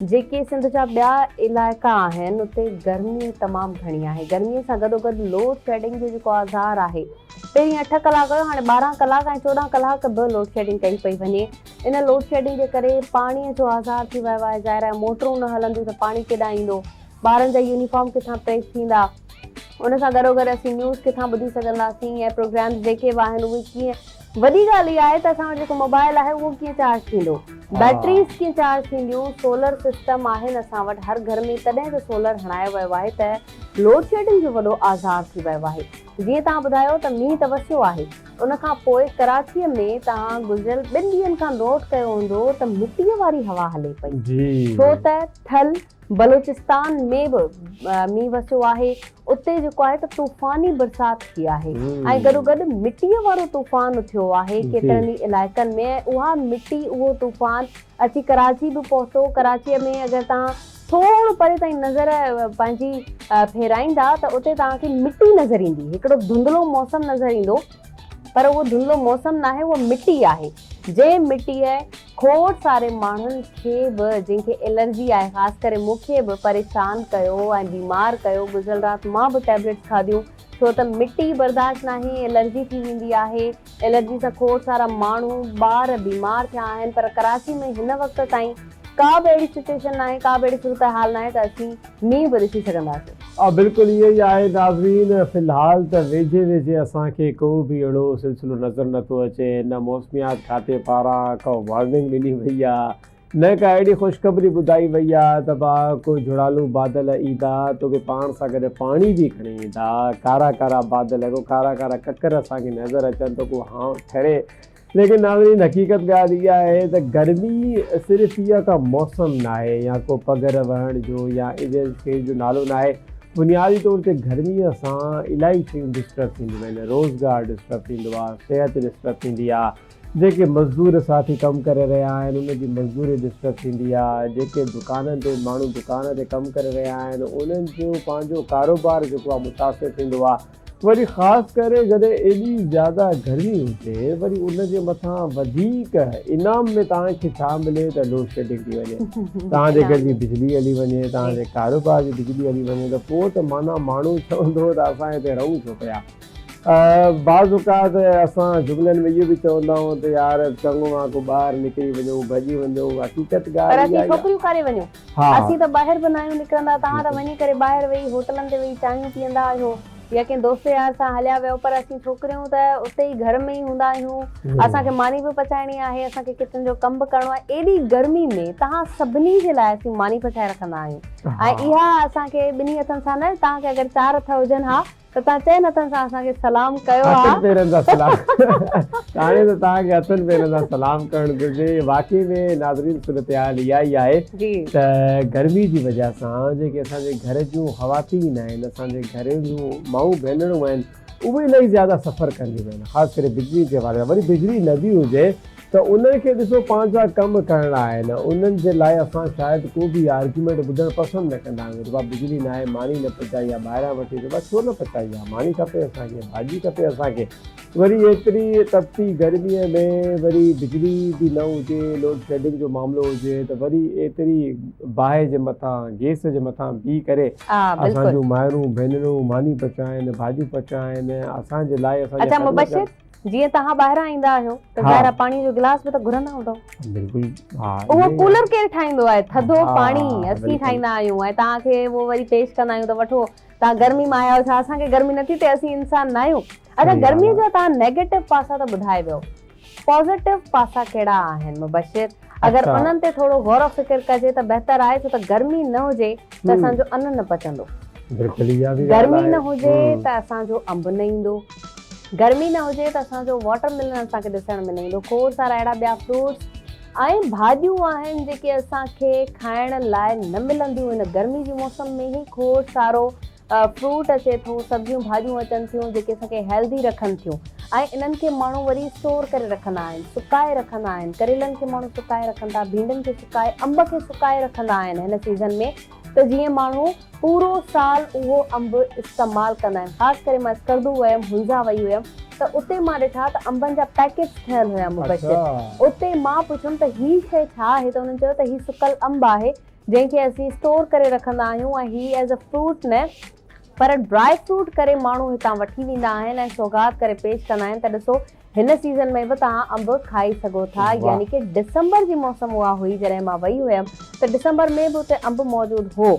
جيڪي سنڌ جا ٻيا علائقا آهن اتي گرمي تمام گهڻي آهي گرمي سان گڏوگڏ لوڊ شيڊنگ جو جيڪو آزار آهي پهرين اٺ ڪلاڪ هيو هاڻي ٻارهن ڪلاڪ ۽ چوڏهن ڪلاڪ به لوڊ شيڊنگ ڪئي پئي وڃي ان لوڊ شيڊنگ جي ڪري پاڻي جو آزار ٿي ويو آهي ظاهر آهي موٽرون نه هلنديون ته پاڻي ڪيڏانهن ايندو ٻارن جا يونيفارم ڪٿان پريس ٿيندا ان سان گڏوگڏ اسين نيوز ڪٿان ٻڌي سگهنداسين ۽ پروگرامز جيڪي به آهن اهي ڪيئن وڏي ڳالهه اها آهي ته اسان وٽ جيڪو موبائل آهي اهو ڪيئن چارج ٿيندو. بيٽريز ڪيئن چارج ٿينديون. سولر سسٽم آهن اسان وٽ هر گهر ۾ تڏهن ته سولر هڻايو ويو آهي ته لوڊ شيڊنگ جو وڏو آزار ٿي ويو آهي. جيئن توهان ٻڌايو ته مينهن ته وسيو آهي ان کان پوء ڪراچيء ۾ توهان گذريل ٻن ڏينهن کان نوٽ ڪيو هوندو ته مٽيء واري هوا هلي پئي ڇو ته ٿل بلوچستان ۾ به مينهن وسيو آهي اتي جيڪو آهي ته طوفاني برسات ٿي آهي ۽ گڏوگڏ مٽيء وارو طوفان اٿيو آهي ڪيترن ئي علائقن ۾ ۽ اها مٽي اهو طوفان اچي ڪراچي به پهتو ڪراچيء ۾ اگر توهان ٿورو پري تائين نظر پنهنجي ڦيرائيندا ته اتي توهان کي مٽي نظر ايندي هڪڙو ڌنڌلو موسم نظر ايندو پر اهو ڌنڌلو موسم ناهي اهو مٽي آهي جنهن مٽيء کوڙ ساري ماڻهن کي به جن کي الرجي آهي خاص ڪري مون کي به پريشان ڪيو ۽ بيمار ڪيو گذريل رات مان به ٽيبليٽس کاڌيون ڇو ته مٽي برداشت ناهي الرجي ٿي ويندي آهي الرجي سان کوڙ سارا ماڻهو ٻار بيمار ٿيا آهن پر ڪراچي ۾ هن وقت تائين ڪا به اهڙي سچوئيشن ناهي ڪا به اهڙي صورتحال ناهي ته اسين مينهن به ڏسي سگهنداسين. آء بلڪل ائين ئي آهي ناظرين في الحال ته ويجهي ويجهي اسان کي ڪو به اهڙو سلسلو نظر نه ٿو اچي نه موسميات کاتي پاران ڪا وارننگ ڏني وئي آ نه ڪا اهڙي خوشخبري ٻڌائي وئي آ ته ڀا ڪو جهڙالو بادل ايندا توکي پاڻ سان گڏ پاڻي به کڻي ايندا ڪارا ڪارا بادل ڪو ڪارا ڪارا ڪڪر اسان کي نظر اچن ته ڪو هانء ٺري ليڪن ناظرين حقيقت ڳالهه اها آهي ته گرمي صرف اها ڪا موسم ناهي يا ڪو پگهر وهڻ جو يا اهڙين شين جو نالو ناهي بنيادي طور تي گرمي سان الائي شيون ڊسٽرب ٿينديون آهن روزگار ڊسٽرب ٿيندو آهي صحت ڊسٽرب ٿيندي آهي جيڪي مزدور ساٿي ڪم ڪري رهيا آهن انهن جي مزدوري ڊسٽرب ٿيندي آهي جيڪي دڪانن تي ماڻهو دڪان تي ڪم ڪري رهيا آهن انهن جو پنهنجو ڪاروبار جيڪو آهي متاثر ٿيندو آهي وري خاص ڪري جڏهن ايڏي زياده گرمي هجي وري ان جي مٿان وڌيڪ انعام ۾ توهان کي ڇا ملي ته لوڊشيڊنگ ٿي وڃي توهان جي گهر جي بجلي هلي وڃي توهان جي ڪاروبار جي بجلي هلي وڃي ته پوء ته معنيٰ ماڻهو چوندو ته اسان هتي رهون ڇو پيا بعض اوقات اسان جملن ۾ اهو به چوندا آهيون ته يار چڱو آ ڪو ٻاهر نڪري وڃون ڀڄي وڃون حقيقت ڳالهه اها آهي پر اسين ڇوڪريون ڪاري وڃون. ها. اسين ته ٻاهر به ناهيون نڪرندا، توهان ته وڃي ڪري ٻاهر ويهي هوٽلن تي ويهي چانهيون پيئندا آهيو يا ڪنهن دوست يار سان هليا ويئو پر اسين ڇوڪريون ته اتي ئي گهر ۾ ئي هوندا آهيون، اسان کي ماني به پچائڻي آهي، اسان کي ڪچن جو ڪم به ڪرڻو آهي، ايڏي گرمي ۾ توهان سڀني جي لاء اسين ماني پچائي رکندا آهيون ۽ اها اسان کي ٻنهي هٿن سان نه توهان کي اگر چار هٿ هجن ها ته توهان چئن هٿن سان اسان کي سلام ڪيو ها. هٿن پيرن سان سلام هاڻي ته توهان کي هٿن پيرن سان سلام ڪرڻ گهرجي واقعي ۾ ناظرين صورتحال اها ئي آهي ته گرمي جي وجه سان جيڪي اسان جي گهر جون خواتين آهن اسان جي گهرين جون مائون ڀينرون آهن اهي الاهي زياده سفر ڪنديون آهن خاص ڪري بجلي جي حوالي سان وري بجلي نه به هجي ته انهن کي ڏسو پنهنجا ڪم ڪرڻا آهن انهن جي لاء اسان شايد ڪو به اها آرگيومينٽ ٻڌڻ پسند نه ڪندا آهيون ربا بجلي ناهي ماني نه پچائي آ ٻاهران وٺي ربا ڇو نه پچائي آ ماني کپي اسان کي ڀاڄي کپي اسان کي وري ايتري تپتي گرمي ۾ وري بجلي به نه هجي لوڊ شيڊنگ جو معاملو هجي ته وري ايتري باهه جي مٿان گيس جي مٿان بيهي ڪري اسان جون مائرون ڀينرون ماني پچائين ڀاڄيون پچائين اسان جي لاء اسان جي خدمت ڪن. جيئن توهان ٻاهران ايندا آهيو ته ظاهر آهي پاڻي جو گلاس به ته گهرندا هوندؤ بلڪل ها اهو ڪولر ڪير ٺاهيندو آهي ٿڌو پاڻي اسين ٺاهيندا آهيون ۽ توهان کي اهو وري پيش ڪندا آهيون ته وٺو توهان گرمي مان آيا آهيو ڇا اسان کي گرمي نٿي ٿئي اسين انسان نه آهيون ادا گرمي جا توهان نيگيٽو پاسا ته ٻڌائي ويو پازيٽو پاسا ڪهڙا آهن مبشر اگر انهن تي ٿورو غور و فڪر ڪجي ته بهتر آهي ڇو ته گرمي نه هجي ته اسان جو ان نه پچندو. گرمي نه هجي ته اسان جو انب نه ايندو. گرمي نه هجي ته اسان جو واٽر ميلن اسان کي ڏسڻ ۾ نه ايندو. کوڙ سارا اهڙا ٻيا فروٽس ۽ ڀاڄيون آهن جيڪي اسان کي کائڻ لاء نه ملنديون. هن گرمي جي موسم ۾ هي کوڙ سارو فروٽ اچي ٿو، سبزيون ڀاڄيون اچن ٿيون جيڪي اسان کي هيلڌي رکن ٿيون ۽ انهن کي ماڻهو وري اسٽور ڪري رکندا آهن، سڪائي رکندا آهن، ڪريلن کي ماڻهو سڪائي رکن ٿا، ڀينڊين کي سڪائي، انب کي سڪائي رکندا آهن هن سيزن ۾ ته جيئن ماڻهو پورو سال اهو انب استعمال ڪندا آهن خاص ڪري مان اسڪردو ويم هنزا وئي هيم ته اتي مان ڏٺا ته انبن جا پيڪيٽس ٺهيل هيا مبشر اتي مان پڇيم ته هي شئي ڇا آهي ته انهن چيو ته هي سڪل انب آهي جنهن کي اسين اسٽور ڪري رکندا آهيون ۽ هي ايز اي فروٽ نه پر ڊراء فروٽ ڪري ماڻهو هتان وٺي ويندا آهن ۽ سوغات ڪري پيش ڪندا آهن ته ڏسو هن سيزن ۾ به توهان انب کائي سگهو ٿا يعني ڪه ڊسمبر جي موسم اها هئي جڏهن مان وئي هيم ته ڊسمبر ۾ به اتي انب موجود هو.